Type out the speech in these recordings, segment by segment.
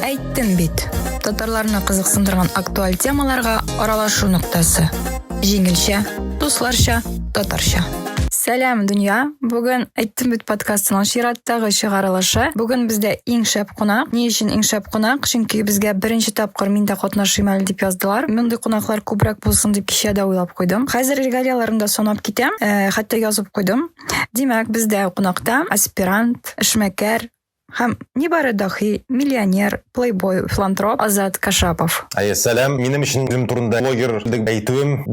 Әйттем бит. Татарларны кызыксындырган актуаль темаларга аралашу ноктасы. Җиңелчә, дусларча, татарча. Сәлам, дөнья! Бүген әйттем бит подкастының чираттагы чыгарылышы. Бүген бездә иң шәп кунак. Ни өчен иң шәп кунак? Чөнки безгә беренче тапкыр мин дә катнашыйм әле дип яздылар. Мондый кунаклар күбрәк булсын дип кичә дә уйлап куйдым. Хәзер регалияләрен дә санап китәм, э, хәтта язып куйдым. Димәк, бездә кунакта аспирант, эшмәкәр, Һәм нибары даһи, миллионер, плейбой, филантроп Азат Кашапов. Әйе, сәлам. Минем өчен үзем турында блогер дип әйтүем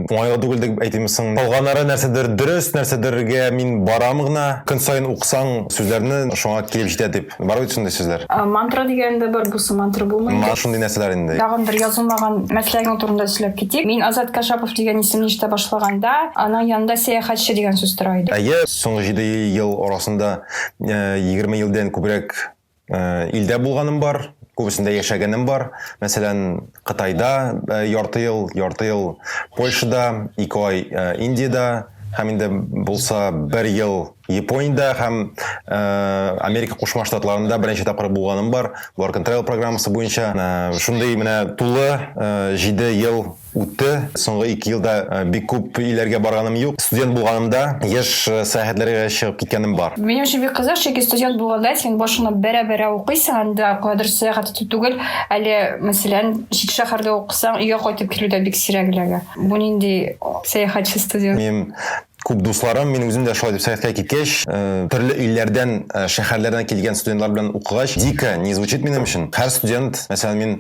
уңайлы түгел дип әйтимме соң? Калганнары нәрсәдер дөрес, нәрсәдергә мин барам гына. Көн саен укысаң сүзләрне, шуңа килеп җитә дип. Бар бит шундый сүзләр. Мантра дигән дә бар, бусы мантра булмый инде. Шундый нәрсәләр инде. Тагын бер язылмаган мәсләгең турында сөйләп китик. Мин Азат Кашапов дигән исемне ишетә башлаганда, аның янында сәяхәтче дигән сүз тора иде. Әйе, соңгы җиде ел арасында 20 елдан күбрәк илдә булганым бар, күбесендә яшәгәнем бар. Мәсәлән, Кытайда ярты ел, ярты ел Польшада, ике ай Индиядә, һәм инде булса бер ел Япониядә һәм э, Америка Кушма Штатларында беренче тапкыр булганым бар. Work and Travel программасы буенча э, шундый менә тулы э, җиде ел Үтте. Соңгы ике елда бик күп илләргә барганым юк. Студент булганымда еш сәяхәтләргә чыгып киткәнем бар. Минем өчен бик кызык, чөнки студент булганда син башыңны бәрә-бәрә укыйсың, анда кадәр сәяхәт итү түгел. Әле, мәсәлән, чит шәһәрдә укысаң, өйгә кайтып килү дә бик сирәк эләгә. Бу нинди сәяхәтче студент? Мин Күп дусларым, мин үзем дә шулай дип сәгатькә киткәч, төрле илләрдән, шәһәрләрдән килгән студентлар белән укыгач, дико не звучит минем өчен. Һәр студент, мәсәлән, мин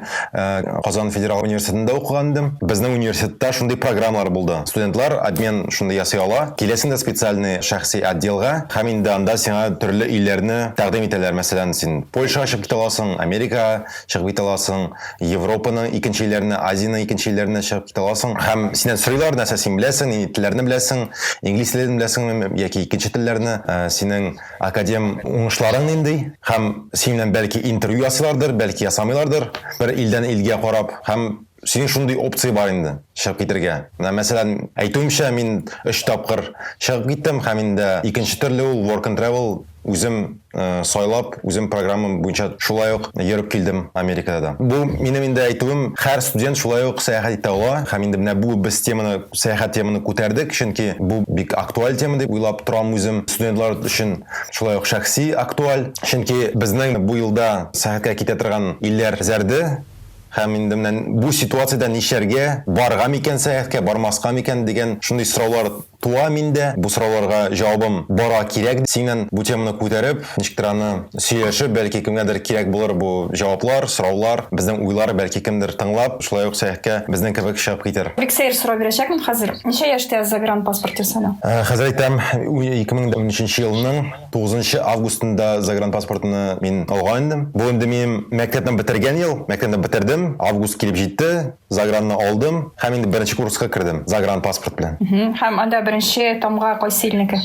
Казан федераль университетында укыган идем. Безнең университетта шундый программалар булды. Студентлар обмен шундый ясый ала. Киләсең дә специальный шәхси отделга һәм инде анда сиңа төрле илләрне тәкъдим итәләр. Мәсәлән, син Польшага очып китә аласың, Америкага. чыгып китә аласың, Европаның икенче илләренә, Азиянең икенче илләренә чыгып китә аласың. Һәм синнән сорыйлар, нәрсә син беләсең, нинди телләрне беләсең, инглиз телен беләсеңме яки икенче телләрне, э, синең академ уңышларың нинди? Һәм синең белән бәлки интервью ясыйлардыр, бәлки ясамыйлардыр, бер илдән илгә карап. Һәм синең шундый опция бар инде, чыгып китергә. Менә мәсәлән, әйтүемчә, мин өч тапкыр чыгып киттем, һәм инде икенче төрле ул work and travel, үзем сайлап, үзем программам буенча шулай ук йөреп килдем Америкада да. Бу минем инде әйтүем, һәр студент шулай ук сәяхәт итә ала. Һәм инде менә бу без теманы, сәяхәт теманы күтәрдек, чөнки бу бик актуаль тема дип уйлап торам үзем. Студентлар өчен шулай ук шәхси актуаль, чөнки безнең бу елда сәяхәткә китә торган илләр зәрде, һәм инде менә бу ситуациядә нишләргә, барырга микән сәяхәткә, бармаска микән дигән шундый сораулар Туа миндә бу сорауларга җавабым бара кирәк синнән бу теманы күтәреп, ничектер аны сөйләшеп, бәлки кемгәдер кирәк булыр бу җаваплар, сораулар, безнең уйлар, бәлки кемдер тыңлап, шулай ук сәяхкә безнең кебек чыгып китер. Бик сәер сорау бирәчәкмен хәзер, ничә яшьтә загран паспорт ясала? Хәзер әйтәм, 2013 нче елның 9 нчы августында загран паспортны мин алган идем. Бу инде минем мәктәпне бетергән ел, мәктәпне бетердем, август килеп җитте, Загранны алдым һәм инде беренче курска кердем, загран паспорт белән. Һәм анда беренче тамга кайсы илнеке?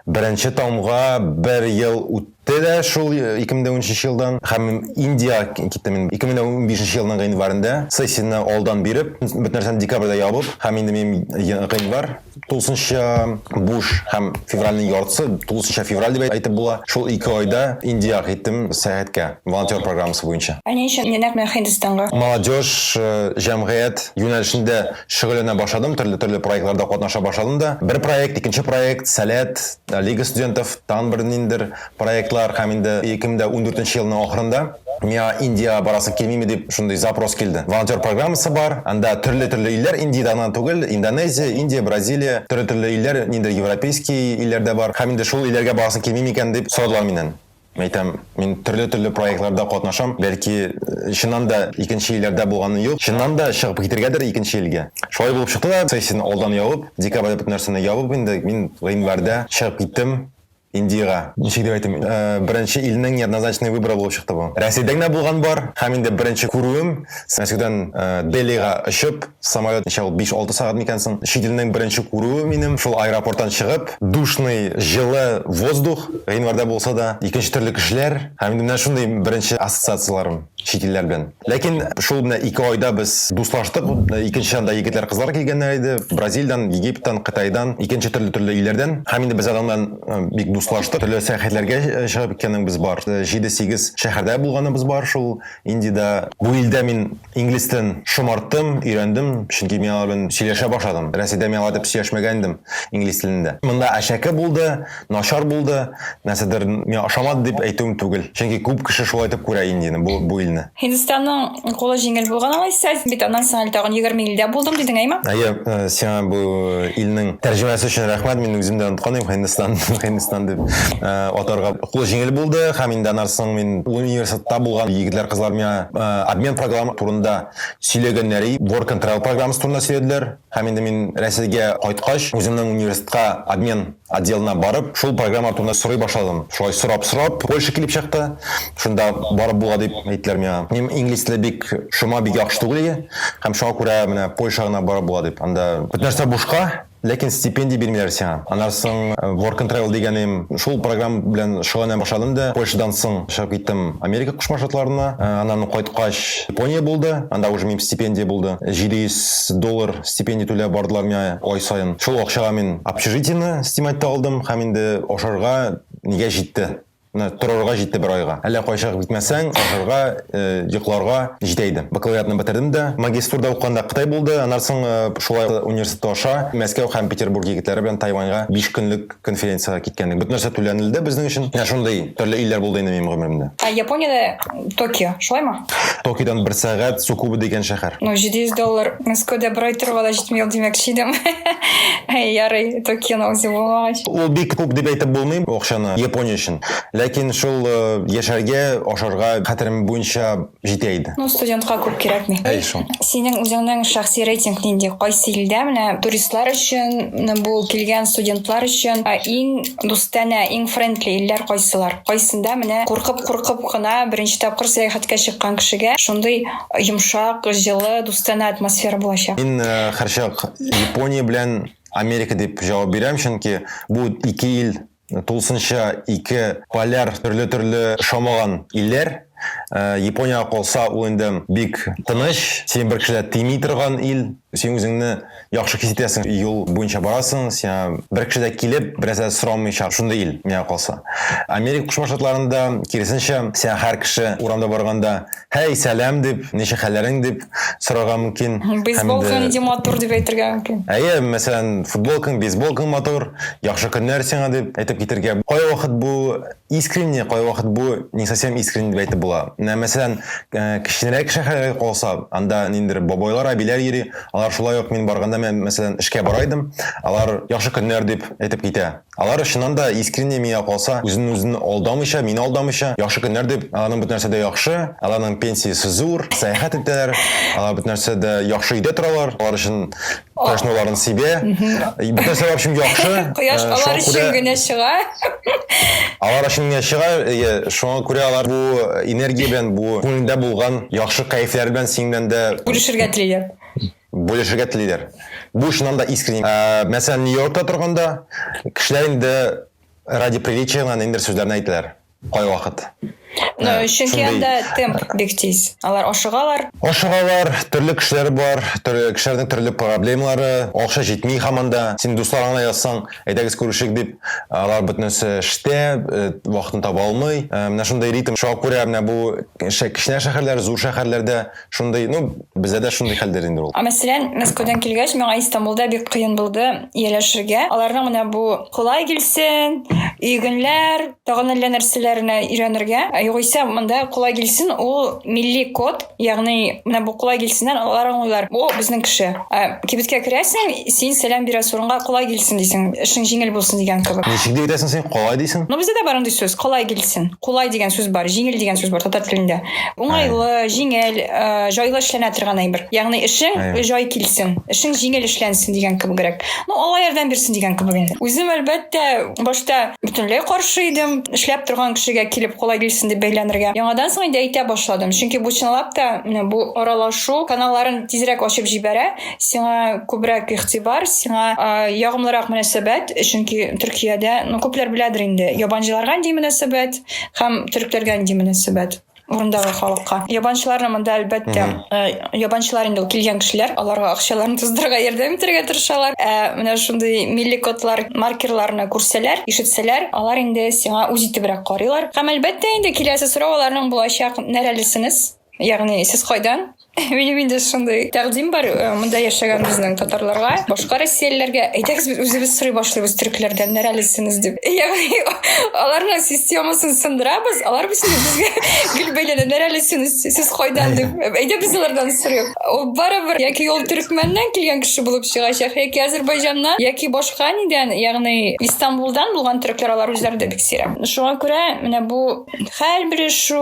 Беренче тамга бер ел үтте дә шул 2013 елдан һәм Индия киттем мин 2015 елның гыйнварында сессияне алдан биреп, бөтен нәрсәне декабрьдә ябып һәм инде минем гыйнвар Тулысынча буш һәм февральнең яртысы, тулысынча февраль дип әйтеп була, шул ике айда Индиягә киттем сәяхәткә, волонтер программасы буенча. Ә ни өчен нәкъ менә Һиндстанга? Молодежь, җәмгыять юнәлешендә шөгыльләнә башладым, төрле-төрле проектларда катнаша башладым да. Бер проект, икенче проект, Сәләт, Лига студентов, тагын бер ниндидер проектлар һәм инде 2014 нче елның ахырында миңа Индиягә барасы килмиме дип шундый запрос килде. Волонтер программасы бар, анда төрле-төрле илләр, Индиядә гына түгел, Индонезия, Индия, Бразилия, төрле-төрле илләр, нинди европейский илләр дә бар, һәм инде шул илләргә барасы килми микән дип сорадылар миннән. Мин әйтәм, мин төрле-төрле проектларда катнашам, бәлки, чыннан да икенче илләрдә булганым юк, чыннан да чыгып китергәдер икенче илгә. Шулай булып чыкты да, сессияне алдан ябып, декабрьдә бөтен нәрсәне ябып инде, мин гыйнварьдә чыгып киттем. Индира, ничек дип әйтим, э, беренче илнең неоднозначный выборы булып чыкты бу. Рәсәйдә генә булган бар, һәм инде беренче күрүем, Мәскәүдән э, Делига очып, самолет ничә ул 5-6 сәгать микән соң, чит илнең беренче күрүе минем, шул аэропорттан чыгып, душный, җылы воздух, гыйнварда булса да, икенче төрле кешеләр, һәм инде менә шундый беренче ассоциацияләрем. чит илләр белән. Ләкин шул менә ике айда без дуслаштык. Икенче анда егетләр, кызлар килгәннәр иде. Бразилиядән, Египтан, Кытайдан, икенче төрле төрле илләрдән. Һәм инде без алар белән э, бик дуслаштык. Төрле сәяхәтләргә э, чыгып киткәнебез бар. 7-8 э, шәһәрдә булганыбыз бар шул Индиядә. Бу илдә мин инглиз телен шомарттым, өйрәндем, чөнки мин алар белән сөйләшә башладым. Рәсәйдә мин алар дип сөйләшмәгән идем инглиз телендә. Монда әшәке булды. Начар булды, нәрсәдер миңа ошамады дип әйтүем түгел. Чөнки күп кеше шулай итеп күрә инде бу бу илне. Һиндстанның кулы җиңел булган алайса, бит аннан соң әле тагын 20 илдә булдым дидең, әйме? Әйе, э, сиңа бу илнең тәрҗемәсе өчен рәхмәт. Мин үзем дә оныткан идем Һиндстан, Һиндстан дип э, атарга. Кулы җиңел булды һәм инде аннан соң мин университетта булган егетләр, кызлар миңа э, обмен программа турында сөйләгәннәр, work and travel программасы турында сөйләделәр. Һәм инде мин Рәсәйгә кайткач, үземнең университетка обмен отделына барып, шул программалар турында сорый башладым. Шулай сорап-сорап, Польша килеп чыкты. Шунда барып була дип әйттеләр миңа. Минем инглиз теле бик шома, бик яхшы түгел иде. Һәм шуңа күрә менә Польша гына барып була дип. Анда бөтен нәрсә бушка, ләкин стипендия бирмиләр сиңа. Аннан соң Work and Travel дигәнем, шул программа белән шөгыльләнә башладым да, Польшадан соң чыгып киттем Америка Кушма Штатларына. Аннан кайткач, Япония булды, анда уже минем стипендия булды. 700 доллар стипендия түләп бардылар миңа ай саен. Шул акчага мин общежитиене снимать та алдым һәм инде ашарга нигә җитте. Менә торырга җитте бер айга. Әллә кайчак битмәсәң, ашарга, йокларга җитә иде. Бакалавриатны бетердем дә. Магистратурада укыганда Кытай булды, аннан соң шулай университетта аша Мәскәү һәм Петербург егетләре белән Тайваньга биш көнлек конференцияга киткәнлек. Бөтен нәрсә түләнелде безнең өчен. Менә шундый төрле илләр булды инде минем гомеремдә. Ә Япониядә Токио, шулаймы? Токиодан бер сәгать Сукубу дигән шәһәр. Ну, 700 доллар Мәскәүдә бер ай торуга да җитми ул, димәкче идем. Ярый, Токионы үзе булмагач. Ул бик күп дип әйтеп булмый акчаны Япония өчен. Ләкин шул э, яшәргә, ашарга, хәтерем буенча, җитә иде. Ну, студентка күп кирәкми. Әй шул. Синең үзеңнең шәхси рейтинг нинди? Кайсы илдә менә туристлар өчен, бу килгән студентлар өчен иң дустанә, иң френдли илләр кайсылар? Кайсында менә куркып-куркып кына беренче тапкыр сәяхәткә чыккан кешегә шундый йомшак, җылы, дустанә атмосфера булачак? Мин һәрчак Япония белән Америка дип җавап бирәм, чөнки бу ике ил тулысынча ике поляр төрле-төрле шамаган илләр. Э, Япониягә калса, ул инде бик тыныч, син бер кешеләр тими торган ил, син үзеңне яхшы хис итәсең, юл буенча барасың, сиңа бер кеше дә килеп, берәсә дә сорамыйча, шундый ил миңа калса. Америка Кушма Штатларында киресенчә, сиңа һәр кеше урамда барганда Һәй, сәлам дип, ничек хәлләрең дип сорарга мөмкин. Бейсболкаң нинди матур дип әйтергә мөмкин. Әйе, мәсәлән, футболкаң, бейсболкаң матур, яхшы көннәр сиңа дип әйтеп китергә. Кай вакыт бу искренне, кай вакыт бу не совсем искренне дип әйтеп була. Менә мәсәлән, э, кечкенәрәк шәһәргә калса, анда ниндидер бабайлар, әбиләр йөри, алар шулай ук мин барганда, мәсәлән, эшкә бара идем, алар яхшы көннәр дип әйтеп китә. Алар чыннан да искренне миңа калса, үзен-үзен алдамыйча, мине алдамыйча, яхшы көннәр дип, аларның бөт нәрсә дә яхшы, аларның пенсиясе зур, сәяхәт итәләр, алар бөт нәрсә дә яхшы өйдә торалар, алар өчен кояш нурларын сибә, бөт нәрсә алар өчен яхшы. Кояш э, алар өчен генә чыга. Алар өчен генә чыга, әйе, шуңа күрә алар бу энергия белән, бу күңелдә булган яхшы кайфләр белән синең белән дә бүлешергә телиләр. Бүлешергә телиләр. Бу чыннан да искренне. Мәсәлән, Нью-Йоркта торганда, кешеләр инде ради приличия гына ниндидер сүзләрне әйтәләр. Кайвакыт. Ну, чөнки анда темп бик тиз. Алар ашыгалар. Ашыгалар, төрле кешеләр бар, төрле кешеләрнең төрле проблемалары, акча җитми һаман да. Син дусларыңа язсаң, әйдәгез күрешик дип, алар бөтенесе эштә, вакытын таба алмый. Менә шундый ритм. Шуңа күрә менә бу кечкенә шәһәрләр, зур шәһәрләрдә шундый ну бездә дә шундый хәлдер инде ул ә мәсәлән мәскәүдән килгәч миңа истамбулда бик кыен булды ияләшергә аларның менә бу кулай килсен игенләр тагын әллә нәрсәләрне өйрәнергә ә югыйсә монда кулай килсен ул милли код ягъни менә бу кулай килсеннән алар аңлыйлар бу безнең кеше ә кибеткә керәсең син сәлам бирәсең урынга кулай килсен дисең эшең җиңел булсын дигән кебек ничек дип әйтәсең син кулай дисең ну бездә дә бар андый сүз кулай килсен кулай дигән сүз бар җиңел дигән сүз бар татар телендә уңайлы җиңел э, җайлы эшләнә торган әйбер ягъни эшең җай килсен эшең җиңел эшләнсен дигән кебегрәк ну алла ярдәм бирсен дигән кебек инде үзем әлбәттә башта бөтенләй каршы идем эшләп торган кешегә килеп кулай килсен дип бәйләнергә яңадан соң инде әйтә башладым чөнки бу чынлап та бу аралашу каналларын тизрәк ачып җибәрә сиңа күбрәк игътибар, сиңа ә, ягымлырак мөнәсәбәт, чөнки Төркиядә, ну, күпләр беләдер инде, ябанчыларга нинди мөнәсәбәт һәм төрекләргә нинди мөнәсәбәт урындагы халыкка. Ябанчыларны монда әлбәттә, э, ябанчылар инде килгән кешеләр, аларга акчаларын туздырырга ярдәм итәргә тырышалар. Ә менә шундый милли кодлар, маркерларны күрсәләр, ишетсәләр, алар инде сиңа үз итебрәк карыйлар. Һәм әлбәттә инде киләсе сорау аларның булачак, нәрәлесенез? Ягъни сез кайдан? Минем инде шундый тәкъдим бар э, монда яшәгән безнең татарларга, башка россиялеләргә. Әйдәгез без үзебез сорый башлыйбыз төрекләрдән нәрәлесенез дип. Ягъни аларның системасын сындырабыз, алар без безгә гел бәйләнә нәрәлесенез, сез кайдан дип. Әйдә без алардан сорыйк. Ул барыбер яки ул төрекмәннән килгән кеше булып чыгачак, яки Азәрбайҗаннан, яки башка нидән, ягъни Истанбулдан булган төрекләр алар үзләре дә бик сирәк. Шуңа күрә менә бу хәл белешү,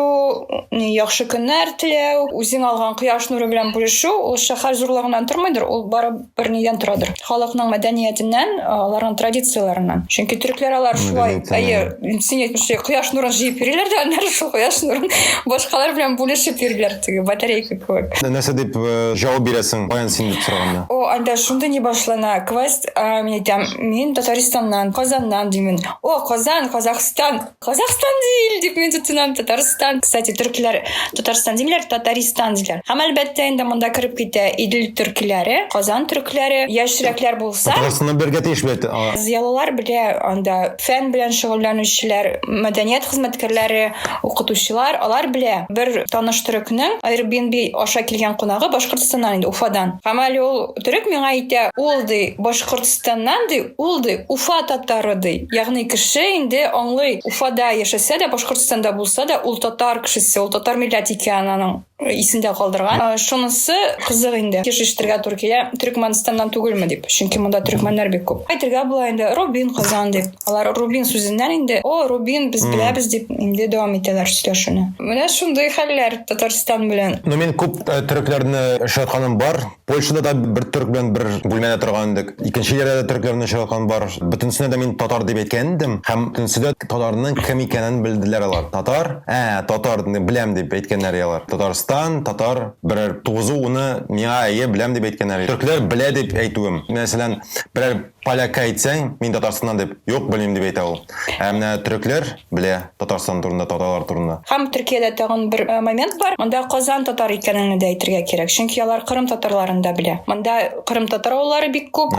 яхшы көннәр теләү, үзең алган кояш нуры белән бүлешү, ул шәһәр зурлыгыннан тормыйдыр, ул бары бер нидән торадыр. Халыкның мәдәниятеннән, аларның традицияләреннән. Чөнки төрекләр алар шулай, әйе, син әйтмешли, кояш нурын җыеп йөриләр дә, аннары шул кояш нурын башкалар белән бүлешеп йөриләр, теге батарейка кебек. Нәрсә дип э, җавап бирәсең, каян син дип сораганда? О, анда шундый не башлана. Квест, мин әйтәм, мин Татарстаннан, Казаннан димен. О, Казан, Казахстан. Казахстан değil deyip мен tutunam Татарстан. Кстати, türkler Татарстан деймler, Татаристан деймler. Һәм әлбәттә инде монда кереп китә Идел төркиләре, Казан төркиләре, яшьрәкләр булса. Татарстаннан бергә тиеш бит. Зыялылар белә анда фән белән шөгыльләнүчеләр, мәдәният хезмәткәрләре, укытучылар, алар белә. Бер таныш төрекнең Airbnb аша килгән кунагы Башкортстаннан инде, Уфадан. Һәм әле ул Төрек миңа әйтә, ул ди, Башкортстаннан ди, ул ди, Уфа татары ди. Ягъни кеше инде аңлый, Уфада яшәсә дә, Башкортстанда булса да, ул татар кешесе, ул татар милләт икәнен аның исендә калдырган. Шунысы кызык инде. Кешештергә туры килә, Төрекмәнстаннан түгелме дип. Чөнки монда төрекмәннәр бик күп. Әйтергә була инде, Рубин Казан дип. Алар Рубин сүзеннән инде, о, Рубин, без беләбез дип инде дәвам итәләр сөйләшүне. Менә шундый хәлләр Татарстан белән. Ну, мин күп төрекләрне очратканым бар. Польшада да бер төрк белән бер бүлмәдә торган идек. Икенче җирдә дә төрекләрне очраткан бар. Бөтенесенә дә мин татар дип әйткән идем һәм бөтенесе дә татарның кем икәнен белделәр алар. Татар? Ә, татар, беләм, дип әйткәннәр иде алар. Татарстан, татар, берәр тугызу-уны миңа әйе, беләм дип әйткәннәр иде. Төркләр белә дип әйтүем, мәсәлән, берәр Полякка әйтсәң, мин Татарстаннан дип, юк, белмим дип әйтә ул. Ә менә төрекләр белә Татарстан турында, татарлар турында. Һәм Төркиядә тагын бер момент бар, монда Казан татар икәнеңне дә әйтергә кирәк, чөнки алар Кырым татарларын да белә. Монда Кырым татар авыллары бик күп,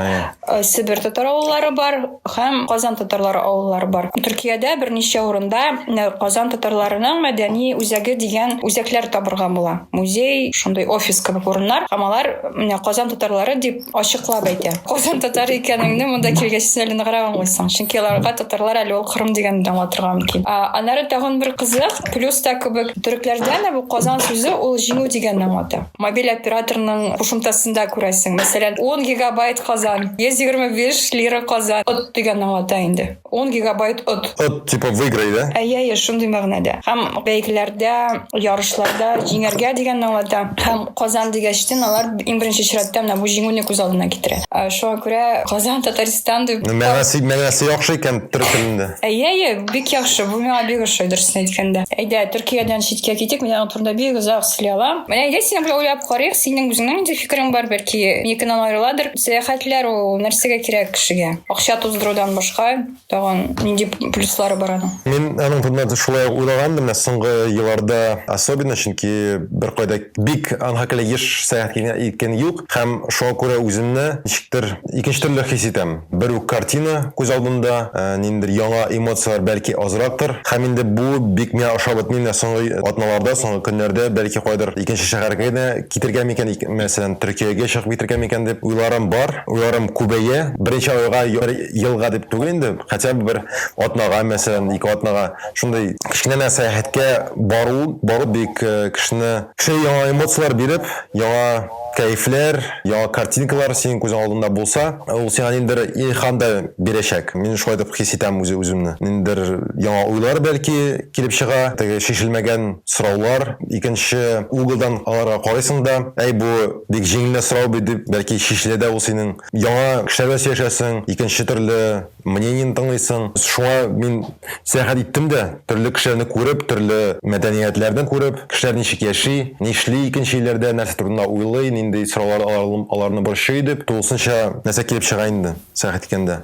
Себер татар авыллары бар һәм Казан татарлары авыллары бар. Төркиядә берничә урында Казан татарларының мәдәни үзәге дигән үзәкләр табырга була, музей, шундый офис кебек урыннар, һәм алар менә Казан татарлары дип, ачыклап әйтә. Казан татар икәнеңне монда килгәч син әле ныграк аңлыйсың. Чөнки аларга татарлар әле ул Кырым дигән аңлатырга мөмкин. Аннары тагын бер кызык, плюс та кебек төрекләрдә дә бу Казан сүзе ул җиңү дигәнне аңлата. Мобиль операторның кушымтасында күрәсең, мәсәлән, 10 гигабайт Казан, 125 лира Казан, от дигәнне аңлата инде. 10 гигабайт от. От, типа, выиграй, да? Әйе, әйе, шундый мәгънәдә. Һәм бәйгеләрдә, ярышларда җиңәргә дигәнне аңлата. Һәм Казан дигәчтен алар иң беренче чиратта менә бу җиңүне күз алдына китерә. Ә, Шуңа күрә Казан, Татарстан дип... Ну, мәгънәсе, мәгънәсе яхшы икән төрек телендә. Әйе, әйе, бик яхшы. Бу миңа бик ошый, дөресен әйткәндә. Әйдә, Төркиядән читкә китик, мин аның турында бик озак сөйли алам. Менә әйдә, синең белән уйлап карыйк, синең үзеңнең нинди фикерең бар, бәлки, минекеннән аерыладыр. Сәяхәтләр ул нәрсәгә кирәк кешегә? Акча туздырудан башка тагын нинди плюслары бар аның? Мин аның турында да шулай уйлаган менә соңгы елларда особенно, чөнки беркайда бик анга кәлә еш сәяхәт иткән юк һәм шуңа күрә үземне ничектер икенче төрле хис итәм. Бер үк картина күз алдында, ниндидер яңа эмоцияләр бәлки азрактыр. Һәм инде бу бик миңа ошап бетми менә соңгы атналарда, соңгы көннәрдә, бәлки кайдыр икенче шәһәргә генә Китергә микән, мәсәлән, Төркиягә чыгып китергә микән дип уйларым бар. Уйларым күбәя. Беренче айга, бер елга дип түгел инде, хотя бы бер атнага, мәсәлән, ике атнага шундый кечкенә генә сәяхәткә бару, бару бик кешене, кешегә яңа эмоцияләр биреп, яңа кәефләр, яңа картинкалар синең күзең алдында булса, ул сиңа ниндидер илһам да бирәчәк. Мин шулай дип хис итәм үз-үземне. Ниндидер яңа уйлар, бәлки, килеп чыга, теге чишелмәгән сораулар, икенче углдан аларга карыйсың да, әй, бу бик җиңел генә сорау бит, дип, бәлки чишелә дә ул синең. Яңа кешеләр белән сөйләшәсең, икенче төрле мнениене тыңлыйсың. Шуңа мин сәяхәт иттем дә, төрле кешеләрне күреп, төрле мәдәниятләрне күреп, кешеләр ничек яши, нишли икенче илләрдә, нәрсә турында уйлый, нинди сораулар аларны борчый, дип, тулысынча нәрсә килеп чыга инде сәяхәт иткәндә.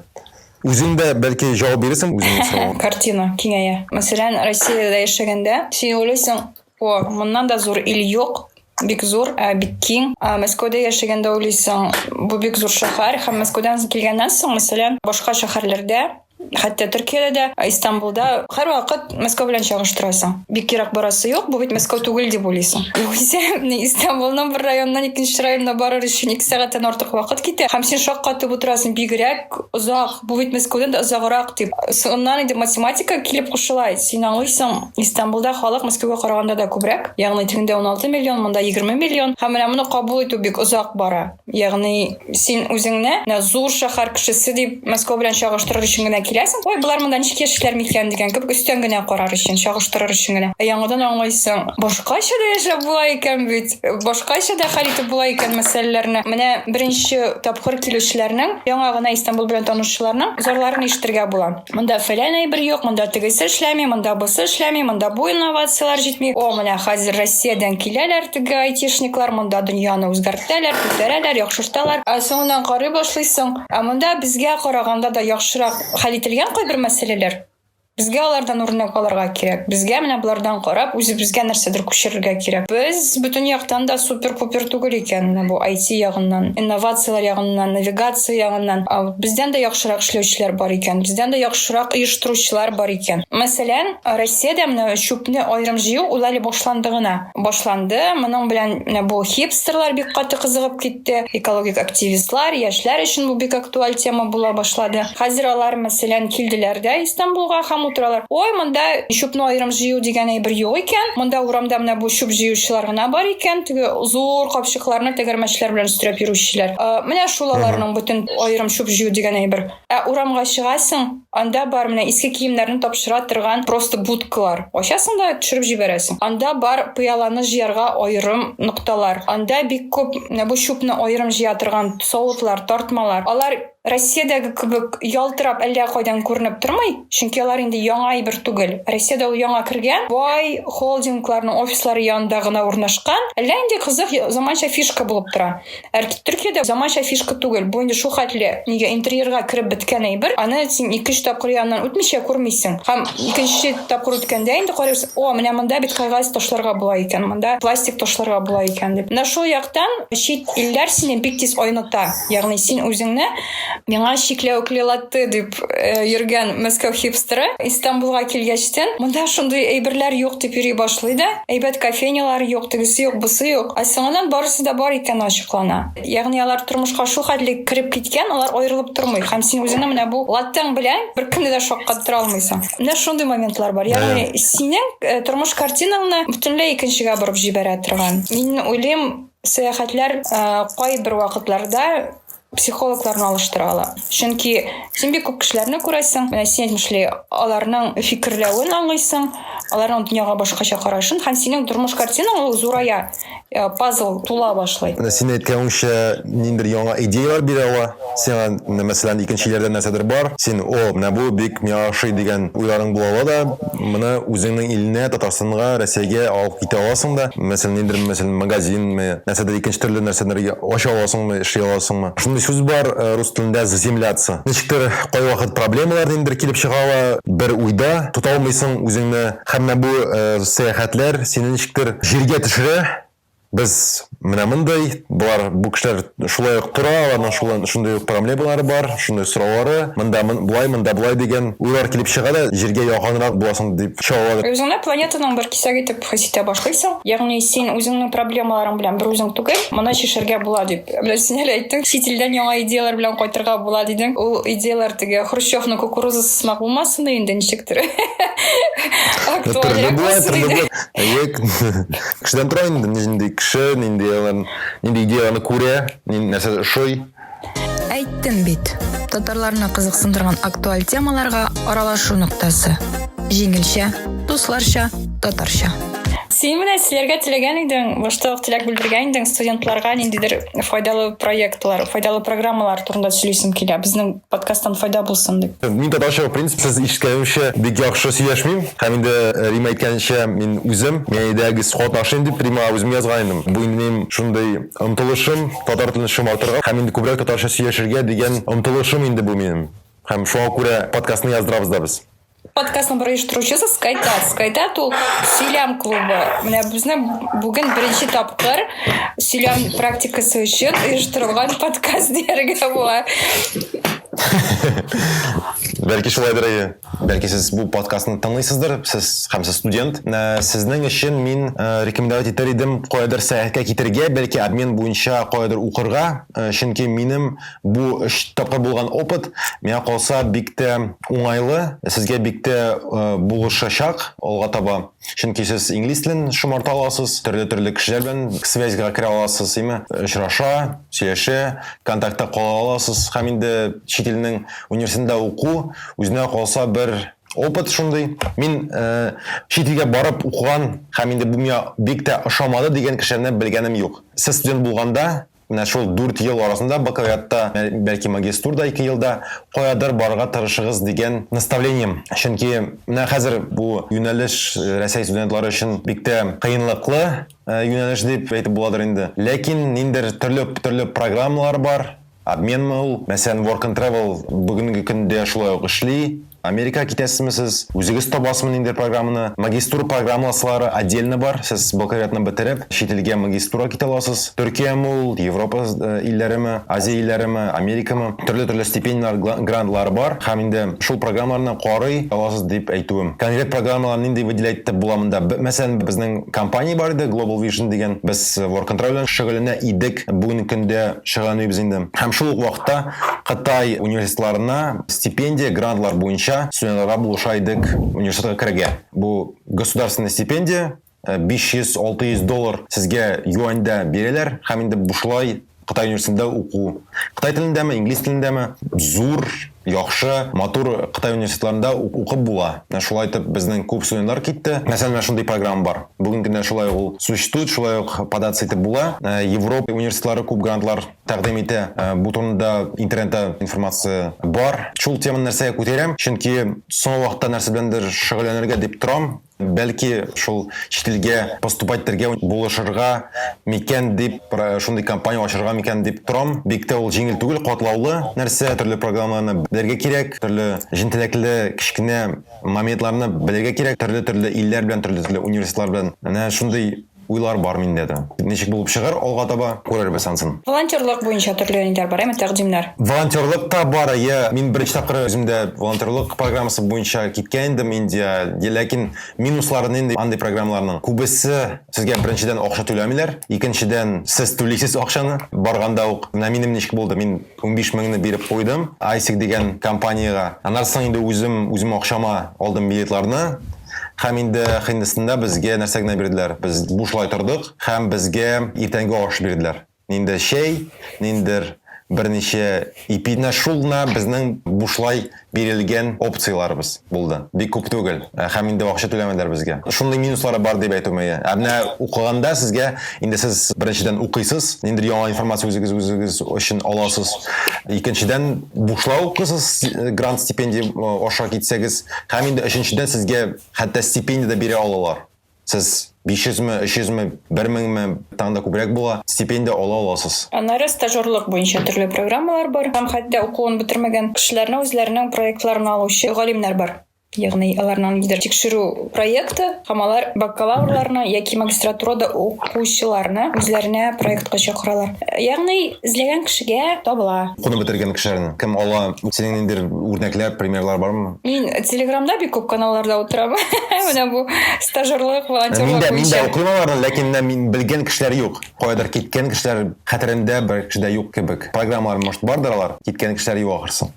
Үзең дә бәлки җавап бирерсең үзеңнең сорауга. Картина киңәя. Мәсәлән, Россиядә яшәгәндә син уйлыйсың, о, моннан да зур ил юк, бик зур, ә бик киң. Ә Мәскәүдә яшәгәндә уйлыйсың, бу бик зур шәһәр һәм Мәскәүдән килгәннән соң, мәсәлән, башка шәһәрләрдә хәтта Төркиядә дә, Истанбулда һәрвакыт Мәскәү белән чагыштырасың. Бик ерак барасы юк, бу бит Мәскәү түгел дип уйлыйсың. Югыйсә, Истанбулның бер районыннан икенче районына барыр өчен ике сәгатьтән артык вакыт китә, һәм син шаккатып утырасың, бигрәк озак, бу бит Мәскәүдән дә озаграк дип. Соңыннан инде математика килеп кушыла. Син аңлыйсың, Истанбулда халык Мәскәүгә караганда да күбрәк, ягъни тегендә 16 миллион, монда 20 миллион. Һәм менә моны кабул итү бик озак бара. Ягъни син үзеңне менә зур шәһәр кешесе дип Мәскәү белән чагыштырыр өчен генә киләсең. Ой, болар монда ничек яшиләр микән дигән кебек өстән генә карар өчен, чагыштырыр өчен генә. Ә яңадан аңлыйсың, башкача да яшәп була икән бит. башкача да хәл итеп була икән мәсьәләләрне. Менә беренче тапкыр килүчеләрнең, яңа гына Истанбул белән танышучыларның зарларын ишетергә була. Монда фәлән әйбер юк, монда тегесе эшләми, монда бусы эшләми, монда бу инновацияләр җитми. О, менә хәзер Россиядән киләләр теге айтишниклар, монда дөньяны үзгәртәләр, күтәрәләр, яхшырталар. Ә соңыннан карый башлыйсың, ә монда безгә караганда да яхшырак хәл ителгән кайбер мәсьәләләр. Безгә алардан үрнәк алырга кирәк. Безгә менә болардан карап, үзебезгә нәрсәдер күчерергә кирәк. Без бөтен яктан да супер-пупер түгел икән, менә бу IT ягыннан, инновацияләр ягыннан, навигация ягыннан. Бездән дә яхшырак эшләүчеләр бар икән, бездән дә яхшырак оештыручылар бар икән. Мәсәлән, Россиядә менә чүпне аерым җыю, уйлали, башланды гына. башланды. Моның белән менә бу хипстерлар бик каты кызыгып китте. Экологик активистлар, яшьләр өчен бу бик актуаль тема була башлады. Хәзер алар, мәсәлән, килделәр дә Истанбулга һәм утыралар. Ой, монда чүпне аерым җыю дигән әйбер юк икән. Монда урамда менә бу чүп җыючылар гына бар икән. Теге зур капчыкларны тәгәрмәчләр белән өстерәп йөрүчеләр. Менә шул аларның бөтен аерым чүп җыю дигән әйбер. Ә урамга чыгасың, анда бар менә иске киемнәрне тапшыра торган просто будкалар. Ачасың да төшереп җибәрәсең. Анда бар пыяланы җыярга аерым нокталар. Анда бик күп менә бу чүпне аерым җыя торган савытлар, тартмалар. Алар Россиядәге кебек ялтырап әллә кайдан күренеп тормый, чөнки алар инде яңа әйбер түгел. Россиядә ул яңа кергән, бай холдингларның офислары янында гына урнашкан. Әллә инде кызык заманча фишка булып тора. Әрт Төркиядә заманча фишка түгел. Бу инде шул хәтле нигә интерьерга кереп беткән әйбер. Аны син икенче тапкыр яныннан үтмичә күрмисең. Һәм икенче тапкыр үткәндә инде карыйсың, о, менә монда бит кагаз ташларга була икән, монда пластик ташларга була икән дип. Менә шул яктан чит илләр сине бик тиз айныта. Ягъни син үзеңне миңа чикләвекле латте дип э, йөргән мәскәү хипстеры Истанбулга килгәчтен, монда шундый әйберләр юк дип йөри башлый да, әйбәт кофейнялар юк, тегесе юк, бусы юк. Ә соңыннан барысы да бар икән ачыклана. Ягъни алар тормышка шу хәтле кереп киткән, алар аерылып тормый. Һәм син үзеңне менә бу латтең белән бер кемне дә шаккаттыра алмыйсың. Менә шундый моментлар бар. Ягъни синең э, тормыш картинаңны бөтенләй икенчегә борып җибәрә торган. Мин уйлыйм, сәяхәтләр э, кайбер вакытларда психологларны алыштыралар чөнки син бик күп кешеләрне күрәсең менә син әйтмешли аларның фикерләвен аңлыйсың аларның дөньяга башкача карашын һәм синең тормыш картинаң ул зурая э, пазл тула башлый менә син әйткәнеңчә ниндидер яңа идеялар бирә ала сиңа менә мәсәлән икенче илләрдә нәрсәдер бар син о менә бу бик миңа ошый дигән уйларың була ала да моны үзеңнең илеңә татарстанга рәсәйгә алып китә аласың да мәсәлән ниндидер мәсәлән магазинме нәрсәдер икенче төрле нәрсәләргә ача аласыңмы эшли аласыңмы? Шундый сүз бар рус телендә заземляться. Ничектер кайвакыт проблемалар ниндидер килеп чыга ала, бер уйда тота алмыйсың үзеңне һәм менә бу сәяхәтләр сине ничектер җиргә төшерә, без менә мондый, болар, бу кешеләр шулай ук тора, аларның шулай, шундый ук проблемалары бар, шундый сораулары, монда болай, монда болай дигән уйлар килеп чыга да, җиргә якынрак буласың дип чыга ала. Үзеңне планетаның бер кисәге итеп хис итә башлыйсың. Ягъни син үзеңнең проблемаларың белән бер үзең түгел, моны чишергә була дип. Менә син әле әйттең, чит илдән яңа идеяләр белән кайтырга була дидең. Ул идеяләр теге Хрущевның кукурузасы сымак булмасын да инде ничектер. Актуальрәк булсын иде. Әйе, кешедән тора инде, нинди кеше, нинди идеяләрне күрә, нәрсә ошый. Әйттем бит. Татарларны кызыксындырган актуаль темаларга аралашу ноктасы. Җиңелчә, дусларча, татарча. Син менә силәргә теләгән идең, башта ук теләк белдергән идең студентларга ниндидер файдалы проектлар, файдалы программалар турында сөйлисем килә. Безнең подкасттан файда булсын дип. Мин татарча, в принципе, сез ишеткәнемчә бик яхшы сөйләшмим. Һәм инде э, Рима әйткәнчә, мин үзем, мин әйдәгез катнашыйм дип Рима үзем язган идем. Бу инде минем шундый Омтылышым, татар телен шомартырга һәм инде күбрәк татарча сөйләшергә дигән омтылышым инде бу минем. Һәм шуңа күрә подкастны яздырабыз да без. Подкастның бер оештыручысы Скайтат. Скайтат ул сөйләм клубы. Менә безнең бүген беренче тапкыр сөйләм практикасы өчен оештырылган подкаст дияргә була. Бәлки шулайдыр әйе. Бәлки сез бу подкастны тыңлыйсыздыр, сез һәм сез студент. Ә, сезнең өчен мин ә, рекомендовать итәр идем каядыр сәяхәткә китергә, бәлки обмен буенча каядыр укырга, ә, чөнки минем бу өч тапкыр булган опыт миңа калса бик тә уңайлы, сезгә бик тә ә, булышачак алга таба. Чөнки сез инглиз телен шомарта аласыз, төрле-төрле кешеләр белән связьга керә аласыз, яме очраша, сөйләшә, контактта кала аласыз һәм инде чит илнең университетында уку Үзенә калса бер опыт шундый. Мин чит илгә барып укыган һәм инде бу миңа бик тә ошамады дигән кешеләрне белгәнем юк. Сез студент булганда, менә шул дүрт ел арасында бакалавриатта, бәлки магистурда ике елда каядыр барырга тырышыгыз дигән наставлением. Чөнки менә хәзер бу юнәлеш Рәсәй студентлары өчен бик тә кыенлыклы юнәлеш дип әйтеп буладыр инде. Ләкин ниндидер төрле төрле программалар бар. Обменмы ул? Мәсәлән, Work and Travel бүгенге көндә шулай ук эшли. Америкага китәсезме сез? Үзегез табасызмы ниндидер программаны? Магистура программаласлары отдельно бар. Сез бакалавриатны бетереп, чит илгә магистурага китә аласыз. Төркияме ул, Европа илләреме, Азия илләреме, Америкамы? Төрле-төрле стипендияләр, грантлар бар. Һәм инде шул программаларны карый аласыз дип әйтүем. Конкрет программалар нинди выделять итеп була монда? Мәсәлән, безнең компания бар иде, Global Vision дигән. Без Work and Travel белән шөгыльләнә идек. бүгенге көндә шөгыльләнмибез инде. Һәм шул ук вакытта Кытай университетларына стипендия, грантлар буенча студентларга булыша идек университетка керергә. Бу государственная стипендия, 500-600 э, доллар сезгә юаньдә бирәләр һәм инде бушлай Кытай университетында уку. Кытай телендәме, инглиз телендәме, зур яхшы, матур Кытай университетларында укып була. Менә шулай итеп безнең күп студентлар китте. Мәсәлән, менә шундый программа бар. Бүген көндә шулай ук ул существует, шулай ук податься итеп була. Европа университетлары күп грантлар тәкъдим итә. Бу турында интернетта информация бар. Шул теманы нәрсәгә күтәрәм, чөнки соңгы вакытта нәрсә беләндер шөгыльләнергә дип торам. Бәлки, шул чит илгә поступать итәргә булышырга микән дип, шундый компания ачырга микән дип торам. Бик тә ул җиңел түгел, катлаулы нәрсә, төрле программаларны белергә кирәк, төрле җентеләкле кечкенә моментларны белергә кирәк, төрле-төрле илләр белән, төрле-төрле университетлар белән. Менә шундый уйлар бар миндә дә. Ничек булып чыгар алга таба, күрербез ансын. Волонтерлык буенча төрле юнәлешләр бар, әйме, тәкъдимнәр? Волонтерлык та бар, әйе. Мин беренче тапкыр үземдә волонтерлык программасы буенча киткән идем Индия. Ләкин минуслары нинди андый программаларның? Күбесе сезгә беренчедән акча түләмиләр, икенчедән сез түлисез акчаны барганда ук. Менә минем ничек булды, мин унбиш меңне биреп куйдым ISIC дигән компаниягә. Аннары соң инде үзем үзем акчама алдым билетларны. Һәм инде ахиндесында безгә нәрсә генә бирделәр, без бушлай тордык һәм безгә иртәнге аш бирделәр. Ниндер чәй, ниндер берничә ипи. Менә шул гына безнең бушлай бирелгән опцияләребез булды. Бик күп түгел. Һәм инде акча түләмәделәр безгә. Шундый минуслары бар дип әйтү мөе. Ә менә укыганда сезгә, инде сез беренчедән укыйсыз, ниндер яңа информация үзегез үзегез өчен аласыз. Икенчедән, бушлай укыйсыз, грант-стипендия аша китсәгез. Һәм инде өченчедән сезгә хәтта стипендия дә бирә алалар. Сез 500 ме, 300 ме, 1000 ме, тагын да күбрәк була, стипендия ала аласыз. Аннары стажерлык буенча төрле программалар бар. Һәм хәтта укуын бетермәгән кешеләрне үзләренең проектларына алучы галимнәр бар. Ягъни аларның нидер тикшерү проекты һәм алар бакалаврларны яки магистратурада укучыларны үзләренә проектка чакыралар. Ягъни эзләгән кешегә табыла. Укуны бетергән кешеләрне кем ала? Синең ниндидер үрнәкләр, примерлар бармы? Мин Телеграмда бик күп каналларда утырам. Менә бу стажерлык, волонтерлык. Мин дә, мин дә укыйм аларны, ләкин менә мин белгән кешеләр юк. Каядыр киткән кешеләр хәтеремдә бер кеше дә юк кебек. Программалар, может, бардыр алар, киткән кешеләр юк ахрысы.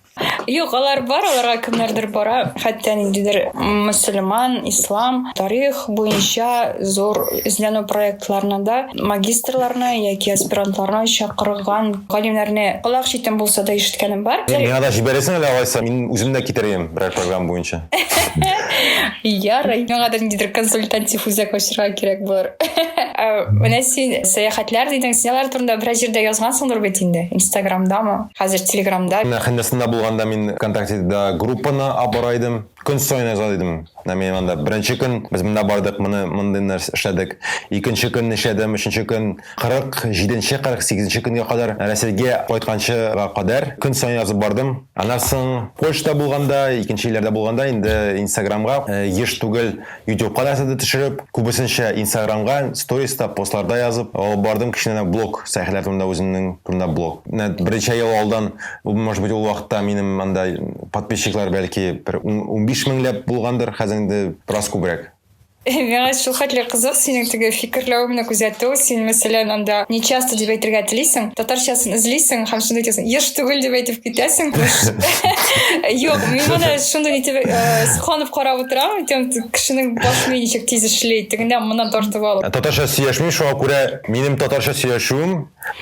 Юк, алар бар, аларга кемнәрдер бара. Хәтта ниндидер мөселман, ислам, тарих буенча зур эзләнү проектларына да магистрларны яки аспирантларны чакырган галимнәрне колак читен булса да ишеткәнем бар. Миңа да җибәрәсең әле алайса, мин үзем дә китерәм берәр программа буенча. Ярый, миңа да ниндидер консультатив үзәк ачырга кирәк булыр. Ә, менә син сәяхәтләр дидең, син алар турында берәр җирдә язгансыңдыр бит инде, Инстаграмдамы, хәзер Телеграмда. Менә Хәндәсында булганда мин ВКонтактеда группаны абарайдым. Көн саен яза дидем. Менә мин анда беренче көн без монда бардык, моны мондый нәрсә эшләдек. Икенче көн нишләдем, өченче көн, 47 нче, 48 нче көнгә кадәр, Рәсәйгә кайтканчыга кадәр көн саен язып бардым. Аннан соң Польшада булганда, икенче илләрдә булганда инде Инстаграмга еш түгел, Ютубка нәрсә дә төшереп, күбесенчә инстаграмга, сториста, постларда язып алып бардым кечкенә блог, сәхилә турында үземнең турында блог. Менә берничә ел алдан, может быть, ул вакытта минем анда подписчиклар бәлки бер унбиш меңләп булгандыр, хәзер инде бераз күбрәк. Миңа шулхәтле кызык синең теге фикерләвеңне күзәтү, син, мәсәлән, анда не часто дип әйтергә телисең, татарчасын эзлисең һәм шунда әйтәсең, еш түгел дип әйтеп китәсең. Юк, мин моны шундый итеп сокланып карап утырам. кешенең баш мие ничек тиз эшли тегендә моннан тартып алып ә татарча сөйләшмим шуңа күрә минем татарча сөйләшүем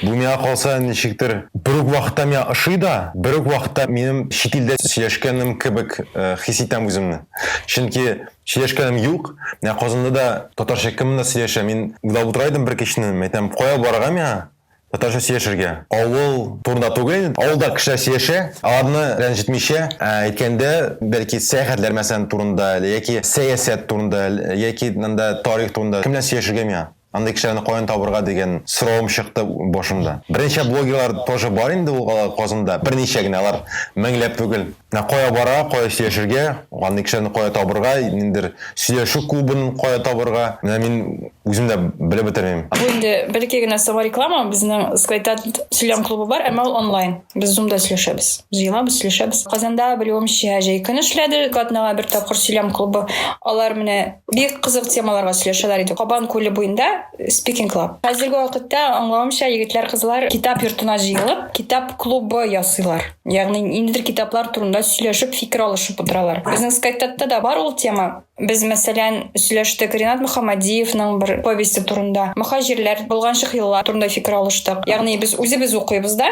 бу миңа калса ничектер бер үк вакытта миңа ошый да бер үк вакытта минем чит илдә сөйләшкәнем кебек э, хис итәм үземне чөнки сөйләшкәнем юк менә казанда да татарча кем монда сөйләшә мин уйлап утыра идем бер кичне әйтәм кая барырга миңа Татарча сөйләшергә. Авыл турында түгел, авылда кешеләр сөйләшә, аларны рәнҗетмичә, ә әйткәндә, бәлки сәяхәтләр мәсәлән турында, яки сәясәт турында, яки нанда тарих турында кемнән сөйләшергә миңа? Андый кешеләрне каян табырга дигән соравым чыкты башымда. Берничә блогерлар тоже бар инде ул Казанда, берничә генә, алар меңләп түгел. Менә кая барырга, кая сөйләшергә, андый кешеләрне кая табырга, ниндидер сөйләшү клубын кая табырга, менә мин үзем дә белеп бетермим. Бу инде бәлки генә сова реклама, безнең Скайта сөйләм клубы бар, әмма ул онлайн. Без Zoom-да сөйләшәбез. Җыелабыз, сөйләшәбез. Казанда, белүемчә, җәй көн эшләде, атнага бер тапкыр сөйләм клубы. Алар менә бик кызык темаларга сөйләшәләр иде. Кабан күле буенда Speaking Club. Хәзерге вакытта, аңлавымча, егетләр-кызлар китап йортына җыелып, китап клубы ясыйлар. яғни ниндидер китаплар турында сөйләшеп фикер алышып отыралар безнең скайттатта да бар ул тема без мәсәлән сөйләштек ринат мөхәммәдиевның бер повесте турында мөхаҗирләр болганчык еллар турында фикер алыштык ягъни без үзебез укыйбыз да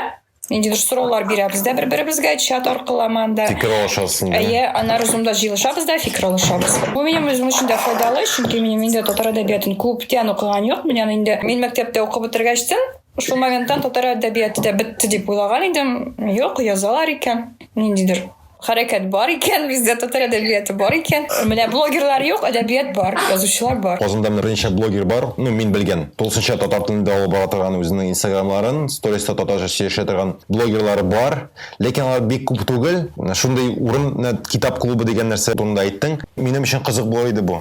ниндидер сораулар бирәбез дә бер беребезгә чат аркылы аманда фикер алышасың әйе аннары зумда җыелышабыз да фикер алышабыз бу минем үзем өчен дә файдалы чөнки минем инде татар әдәбиятын күптән укыган юк мин аны инде мин мәктәптә укып бетергәчтен Шул моментта татар әдәбияты да бетте дип уйлаган идем. Юк, язалар икән. Ниндидер хәрәкәт бар икән, бездә татар әдәбияты бар икән. Менә блогерлар юк, әдәбият бар, язучылар бар. Казанда менә берничә блогер бар, ну, мин белгән. Тулысынча татар телендә алып бара торган үзенең инстаграмларын, сториста татарча сөйләшә торган блогерлар бар. Ләкин алар бик күп түгел. Шундый урын, китап клубы дигән нәрсә турында әйттең. Минем өчен кызык булыр иде бу.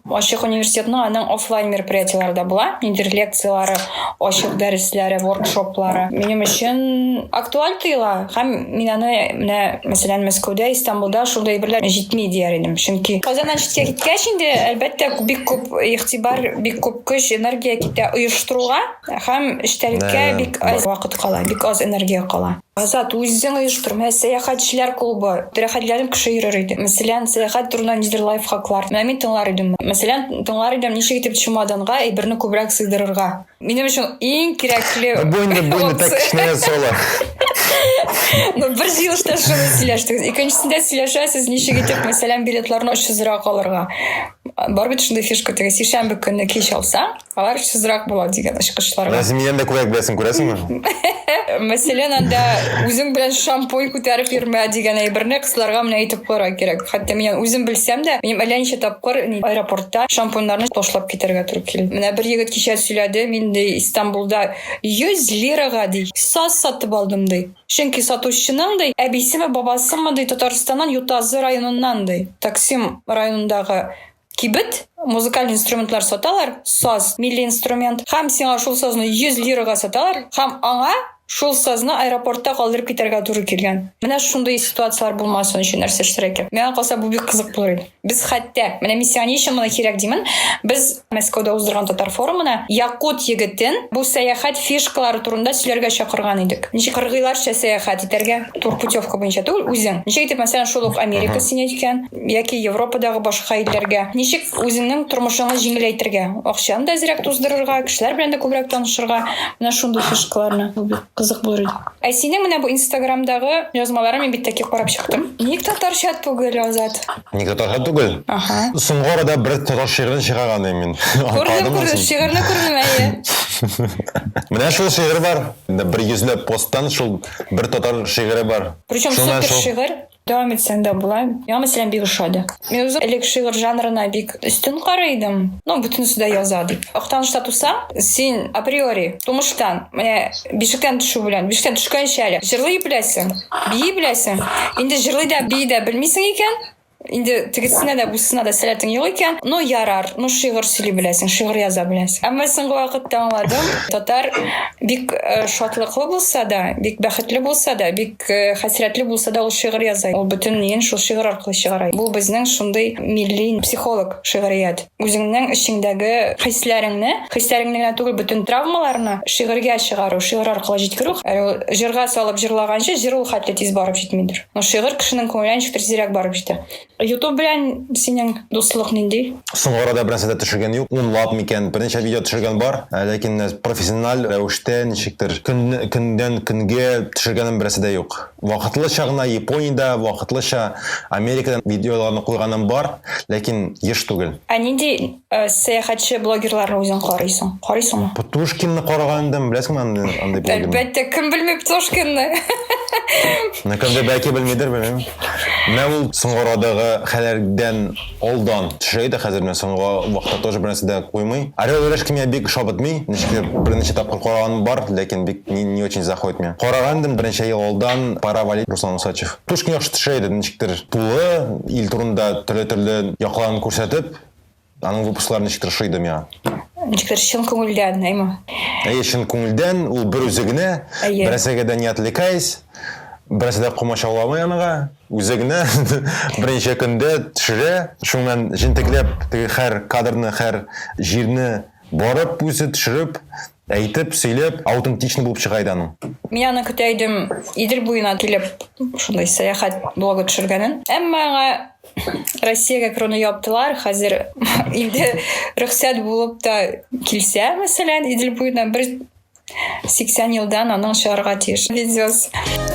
Ачык университетның аның офлайн мероприятиеләре дә була. Ниндидер лекцияләре, ачык дәресләре, воркшоплары. Минем өчен актуаль тоела. Һәм мин аны менә, мәсәлән, Мәскәүдә, Истанбулда шундый әйберләр җитми дияр идем. Чөнки Казаннан читкә киткәч инде, әлбәттә, бик күп игътибар, бик күп көч, энергия китә оештыруга һәм эчтәлеккә бик аз вакыт кала, бик аз энергия кала. Азат, үзең оештырма. Ә сәяхәтчеләр клубы тирәхәтләрен кеше йөрер иде. Мәсәлән, сәяхәт турында нидер лайфхаклар. Менә мин тыңлар идем. Мәсәлән, тыңлар идем, ничек итеп чемоданга әйберне күбрәк сыйдырырга. Минем өчен иң кирәкле... Бу инде, бу инде так кечкенә соло. Ну, бер җыелышта шуны сөйләштегез. Икенчесендә сөйләшәсез, ничек итеп, мәсәлән, билетларны очсызрак алырга. Бар бит шундый фишка, теге сишәмбе көнне кич алсаң, Алар шызрак була дигән ачкычлар. Назимиян дә күбрәк беләсең, күрәсеңме? Мәсәлән, анда үзең белән шампунь күтәреп йөрмә дигән әйберне кызларга менә әйтеп куярга кирәк. Хәтта мин үзем белсәм дә, мин әллә ничә тапкыр аэропортта шампуньнарны ташлап китәргә туры килде. Менә бер егет кичә сөйләде, мин ди Истанбулда 100 лирага ди саз сатып алдым ди. Чөнки сатучының ди әбисеме, бабасымы ди Татарстаннан Ютазы районыннан ди. Таксим районындагы Кибет, музыкаль инструментлар саталар, саз, милли инструмент, һәм сиңа шул сазны 100 лирага саталар, һәм аңа шул сазны аэропортта калдырып китәргә туры килгән. Менә шундый ситуацияләр булмасын өчен нәрсә эшләргә кирәк? Миңа калса, бу бик кызык булыр иде. Без хәтта, менә миссия ни өчен моны кирәк димен, без Мәскәүдә уздырган татар форумына якут егетен бу сәяхәт фишкалары турында сөйләргә чакырган идек. Ничек кыргыйларча сәяхәт итәргә, тур путевка буенча түгел, үзең. Ничек итеп, мәсәлән, шул ук Америка сине өйткән, яки Европадагы башка илләргә? Ничек үзеңнең тормышыңны җиңеләйтергә? Акчаны да әзрәк туздырырга, кешеләр белән дә күбрәк танышырга, менә шундый фишкаларны. Бу бик кызык булыр иде. Ә синең менә бу Инстаграмдагы язмаларың мин бит таки карап чыктым. Ник татарча түгел, Азат? Ник татарча түгел? Ага. Соңгы арада бер татар шигырен чыгарган идем мин. Күрдем, күрдем, шигырьне күрдем, әйе. Менә шул шигырь бар. Бер йөзләп посттан шул бер татар шигыре бар. Причем супер шигырь. Дәвам итсәң дә була. Миңа мәсәлән бик ошады. Мин үзем элек шигырь жанрына бик өстен карый идем. Ну, бөтенесе дә яза дип. Актанышта тусаң, син априори, тумыштан, менә бишектән төшү белән, бишектән төшкәнче әле җырлый беләсең, бии беләсең. Инде җырлый да, бии дә белмисең икән, инде тегесенә дә бусына да сәләтең юк икән ну ярар ну шигырь сөйли беләсең шигырь яза беләсең әмма соңгы вакытта аңладым татар бик э, шатлыклы булса да бик бәхетле булса да бик хәсрәтле булса да ул шигырь яза ул бөтен ниен шул шигырь аркылы чыгара бу безнең шундый милли психолог шигърият үзеңнең эчеңдәге хисләреңне хисләреңне генә түгел бөтен травмаларны шигырьгә чыгару шигырь аркылы җиткерү җырга салып җырлаганчы җыр ул хәтле тиз барып җитмидер но шигырь кешенең күңеленә ничектер тизрәк барып җитә Ютуб белән синең дуслык нинди? Соңгы арада бернәрсә дә төшергән юк. Унлап микән, берничә видео төшергән бар, ә, ләкин менә профессиональ рәвештә ничектер көн, көннән көнгә төшергәнем бернәрсә дә юк. Вакытлыча гына Япониядә, вакытлыча Америкадан видеоларны куйганым бар, ләкин еш түгел. Ә нинди Э, сәяхәтче блогерларны үзең карыйсың карыйсыңмы птушкинны караган идем беләсеңме андый андый блогерны әлбәттә кем белми птушкинны ну кемдер бәлки белмидер белмеймін менә ул соңгы арадагы хәлләрдән алдан төшә иде хәзер менә соңгы вакытта тоже бернәрсә дә куймый орел и решка миңа бик шабытмый ничектер берничә тапкыр караганым бар ләкин бик не, не очень заходит миңа караган идем берничә ел алдан пора валить руслан усачев птушкин яхшы төшә иде ничектер тулы ил турында төрле төрле якларын күрсәтеп Аның выпусклары ничектер ошый иде миңа. Ничектер чын күңелдән, әйме? Әйе, чын күңелдән, ул бер үзе генә, берәсәгә дә не отвлекаясь, берәсә дә комачауламый аныга, үзе генә берничә көндә төшерә, шуның белән җентекләп теге һәр кадрны, һәр җирне барып үзе төшереп, Әйтеп, сөйләп, аутентичный булып чыга иде аның. Мин аны көтә идем, Идел буена килеп, шундый сәяхәт блогы төшергәнен. Әмма аңа Россиягә керүне яптылар. Хәзер инде рөхсәт булып та килсә, мәсәлән, Идел буена бер 80 елдан аның чыгарга тиеш видеос.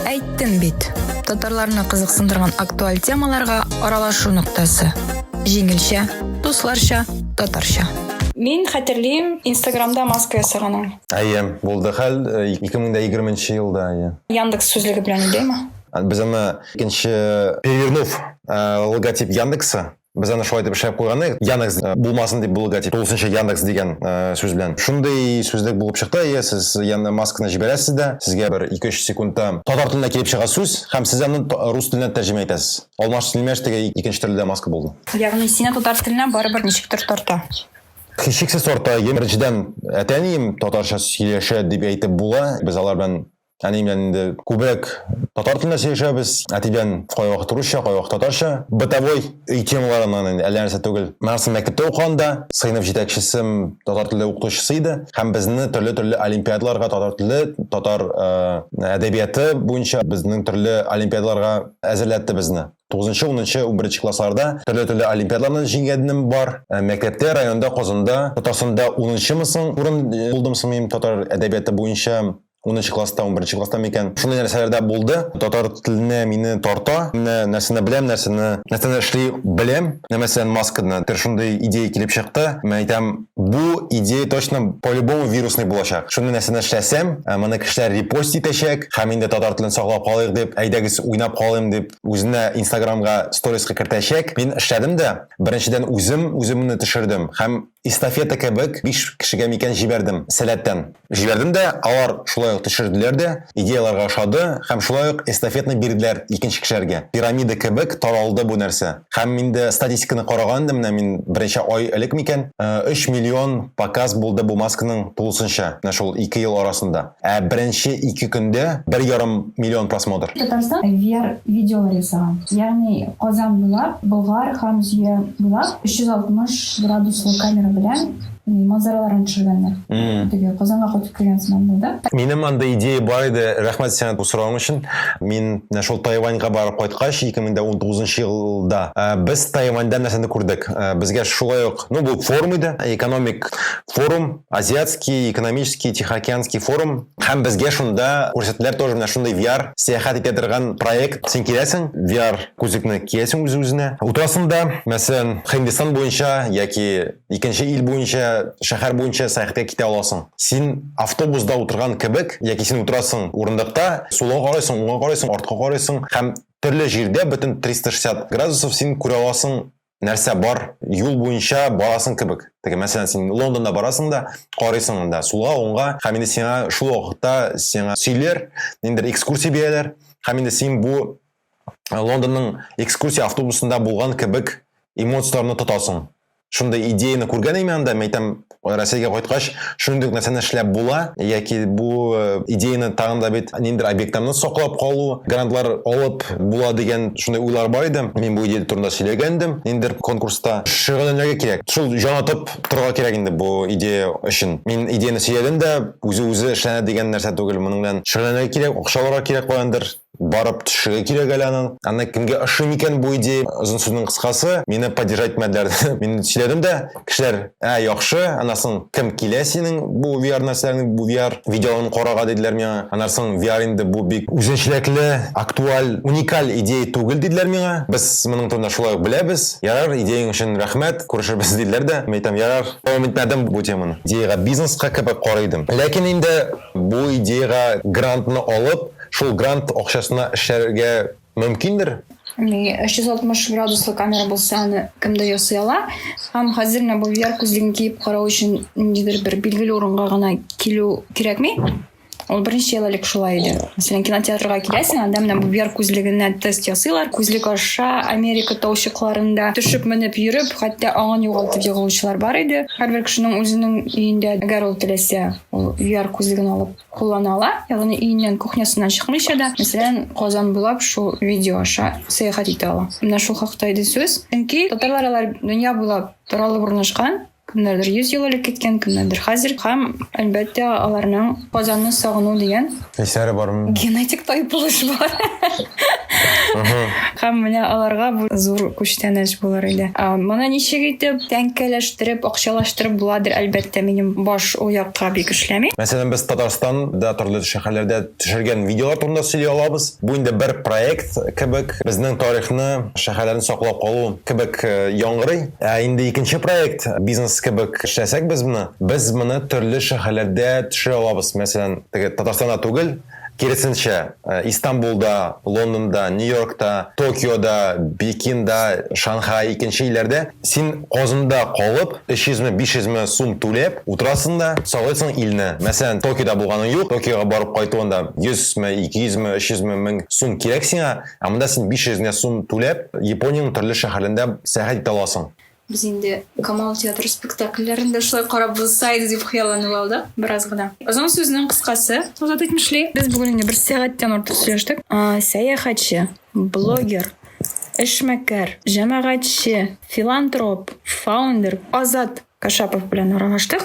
Әйттем бит. Татарларны кызыксындырган актуаль темаларга аралашу ноктасы. Җиңелчә, дусларча, татарча. Мин хәтерлим, Инстаграмда маска ясаганың. Әйе, булды хәл 2020 э, елда, әйе. Яндекс сүзлеге белән идеме? Без аны икенче перевернув э, логотип Яндекса без аны шулай итеп эшләп куйган едек яндекс э, булмасын дип булуга тип тулысынча яндекс дигән ә, э, сүз белән шундый сүзлек булып чыкты иә сез яны масканы җибәрәсез дә сезгә бер ике өч секундта татар теленә килеп чыга сүз һәм сез аны рус теленә тәрҗемә итәсез Алмаш Силмеш теге икенче төрле дә маска булды. Ягъни сине татар теленә барыбер ничектер тарта. Хичексез тарта. Ем беренчедән әтәнием татарча сөйләшә дип әйтеп була. Без алар белән әни белән инде күбрәк татар телендә сөйләшәбез. Әти белән кайвакыт русча, кайвакыт татарча. Бытовой өй темаларыннан инде әллә нәрсә түгел. Миңарсын мәктәптә укыганда сыйныф җитәкчесем татар теле укытучысы иде һәм безне төрле-төрле олимпиадаларга татар теле, татар әдәбияты буенча безнең төрле олимпиадаларга әзерләтте безне. 9-10-11 классларда төрле-төрле олимпиадаларны җиңгәнем бар. Ә мәктәптә, районда, Казанда, Татарстанда 10-мы соң урын э, булдым сымыйм татар әдәбияты буенча 10 класста, 11 класста микән. Шундый нәрсәләрдә булды. Татар теленә мине тарта. Менә нәрсәне беләм, нәрсәне нәрсәне эшли беләм. Менә мәсәлән, масканы. Бер шундый идея килеп чыкты. Мен әйтәм, Бу идея точно по-любому вирусный булачак. Шуны нәрсә эшләсәм, ә, моны кешеләр репост итәчәк, һәм инде татар телен саклап калыйк дип, әйдәгез уйнап калыйм дип, үзенә инстаграмга сториска кертәчәк. Мин эшләдем дә, беренчедән үзем үземне төшердем һәм эстафета кебек биш кешегә микән җибәрдем сәләттән. Җибәрдем дә, алар шулай ук төшерделәр дә, идеяләргә ошады, һәм шулай ук эстафетны бирделәр икенче кешеләргә. Пирамида кебек таралды бу нәрсә. Һәм инде статистиканы караган идем, менә мин берничә ай элек микән, өч миллион показ булды бу масканың тулысынча, менә шул ике ел арасында. Ә беренче ике көндә бер ярым миллион просмотр. Татарстан VR видеолар ясаган, ягъни Казан буйлап, Болгар һәм Зөя буйлап 360 градуслы камера белән манзараларын төшергәннәр. Теге Казанга кайтып кергән сыман булды. Минем анда идея бар иде. Рәхмәт сиңа бу сорауың өчен. Мин менә шул Тайваньга барып кайткач, 2019 елда э, без Тайваньда нәрсәне күрдек? Э, безгә шулай ук, ну бу форум иде, экономик форум, азиатский, экономический, тихоокеанский форум. Һәм безгә шунда күрсәттеләр тоже менә шундый VR сәяхәт итә торган проект. Син киләсең, VR күзлекне киясең үз-үзенә. Утырасың да, мәсәлән, Хиндстан буенча яки икенче ил буенча шәһәр буенча сәяхәткә китә аласың син автобуста утырган кебек яки син утырасың урындыкта сулга карайсың уңга карайсың артка карайсың һәм төрле җирдә бөтен 360 градусов син күрә аласың нәрсә бар юл буенча барасың кебек теге мәсәлән син лондонда барасың да карыйсың анда сулга уңга һәм инде сиңа шул вакытта сиңа сөйләр ниндидер экскурсия бирәләр һәм инде син бу Лондонның экскурсия автобусында булган кебек эмоцияләрне тотасың. Шундый идеяны күргән идем анда, мәйтәм, Россиягә кайткач, шундый нәрсәне эшләп була, яки бу э, идеяны тагын да бит ниндидер объектларны саклап калу, грантлар алып була дигән шундый уйлар бар иде. Мин бу идея турында сөйләгәндем, ниндидер конкурста. Шөгыльләнергә кирәк. Шул җан атып торырга кирәк инде бу идея өчен. Мин идеяны сөйләдем дә, үзе-үзе эшләнә дигән нәрсә түгел. Моның белән шөгыльләнергә кирәк, акча алырга кирәк каяндыр. барып төшергә кирәк әле аның. Аны кемгә ошый микән бу идея? Озын сүзнең кыскасы, мине поддержать итмәделәр. Мин сөйләдем дә, кешеләр, ә, яхшы, аннан кем килә синең бу VR нәрсәләрне, бу VR видеоларын карарга диделәр миңа. Аннан VR инде бу бик үзенчәлекле, актуаль, уникаль идея түгел диделәр миңа. Без моның турында шулай ук беләбез. Ярар, идеяң өчен рәхмәт, күрешербез диделәр дә. Мин әйтәм, ярар, дәвам итмәдем бу теманы. Идеягә бизнеска кебек карый идем. Ләкин инде бу идеягә грантны алып, шул грант акчасына эшләргә мөмкиндер? Ни 360 градуслы камера булса, аны кемдә ясый ала? Һәм хәзер менә бу VR күзлеген киеп карау өчен ниндидер бер билгеле урынга гына килү кирәкми? Ул беренче ел элек шулай иде. Мәсәлән, кинотеатрга киләсең, анда менә бу VR күзлегенә тест ясыйлар. Күзлек аша Америка таучыкларында төшеп менеп йөреп, хәтта аңын югалтып егылучылар бар иде. Һәрбер кешенең үзенең өендә, әгәр ул теләсә, ул VR күзлеген алып Куллана ала, ягъни өеннән, кухнясыннан чыкмыйча да, мәсәлән, Казан буйлап шул видео аша сәяхәт итә ала. Менә шул хакта иде сүз. Чөнки татарлар алар дөнья буйлап таралып урнашкан, кемнәрдер 100 ел элек киткән, кемнәрдер хәзер һәм, әлбәттә, аларның Казанны сагыну дигән Хисләре бармы? генетик тайпылыш бар. Һәм менә аларга бу зур күчтәнәч булыр иде. Моны ничек итеп тәңкәләштереп, акчалаштырып буладыр, әлбәттә, минем баш ул як га бик эшләми. Мәсәлән, без Татарстан да торлы шәһәрләрдә төшергән видеолар турында сөйли алабыз. Бу инде бер проект кебек, безнең тарихны, шәһәрләрне саклап калу кебек яңгырый. Ә инде икенче проект, бизнес кебек эшләсәк без моны, без моны төрле шәһәрләрдә төшерә алабыз. Мәсәлән, теге Татарстанда түгел, Киресенчә, Истанбулда, Лондонда, Нью-Йоркта, Токиода, Бекинда, Шанхай, икенче илләрдә син Казанда калып, 300-ме, 500-ме сум түләп, утырасың да, сайлыйсың илне. Мәсәлән, Токиода булганың юк, Токиога барып кайту анда 100-ме, 200-ме, 300-ме мең сум кирәк сиңа, ә монда син 500 генә сум түләп, Япониянең төрле шәһәрендә сәяхәт итә аласың. Без инде Камал театры спектакльләрен дә шулай карап булса иде дип хыялланып алдык бераз гына. Озын сүзнең кыскасы, Азат әйтмешли, без бүген инде бер сәгатьтән артык сөйләштек. Сәяхәтче, блогер, эшмәкәр, җәмәгатьче, филантроп, фаундер Азат Кашапов белән аралаштык.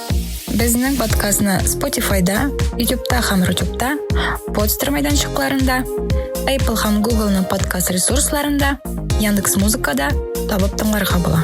Безнең подкастны Spotify-да, YouTube-та һәм Rutube-та, подстер мәйданчыкларында, Apple һәм Google-ның подкаст ресурсларында, Яндекс Музыкада табып тыңларга була.